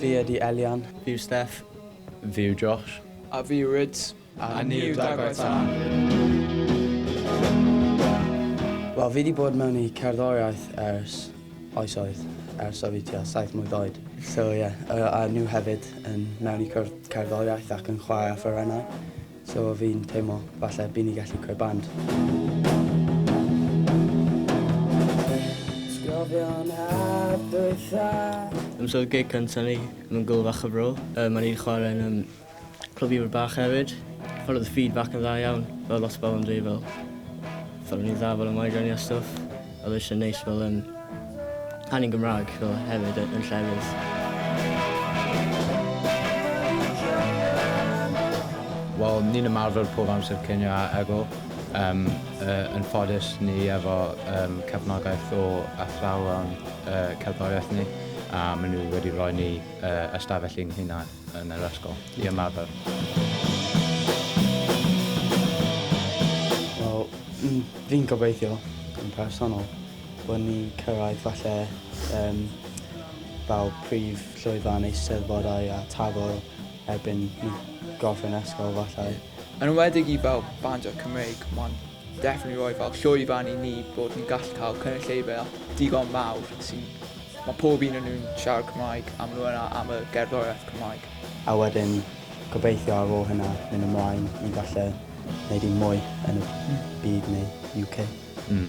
Fi ydi Elian. Fi yw Steph. Fi yw Josh. A fi yw Rydz. A, a ni yw Dagwedd Tân. Wel, fi wedi bod mewn i cerddoriaeth ers Oes oedd, ers oedd fi tua saith mlwydd oed. So ie, yeah. uh, a nhw hefyd yn mewn i cwrdd cerddoriaeth ac yn chwarae a ffyrennau. So fi'n teimlo falle byd ni gallu creu band. Sgofion hap dwytha. Ymwneud gig cyntaf ni, mae'n gwl fach o bro. Uh, Mae'n i'n chwarae yn um, Clybiwr bach hefyd. Ond oedd y feedback yn dda iawn. Fel lot o bobl yn dweud fel fel o'n i'n dda fel y migraine a stwff. Oedd e jyst yn neis fel yym canu'n Gymraeg fel hefyd yn llefydd. Wel ni'n ymarfer pob amser cinio a egw. Yym yy yn ffodus ni efo yym cefnogaeth o athrawon yy cerddoriaeth ni a ma' nw wedi roi ni yy ystafell i'n hunan. yn yr ysgol i ymarfer. Wel, mm, fi'n gobeithio yn personol bod ni'n cyrraedd falle um, fel prif llwyfan eisteddfodau a tafel erbyn ni gorffen ysgol falle. Yn enwedig i fel bandio Cymreig, mae'n Definitely roi fel llwyfan i ni bod yn gallu cael cynulleidfa digon mawr sy'n... mae pob un o nhw'n siarad Cymraeg a maen nhw yna am y gerddoriaeth Cymraeg. A wedyn gobeithio ar ôl hynna mynd ymlaen i falle wneud un mwy yn y byd neu UK. Mm.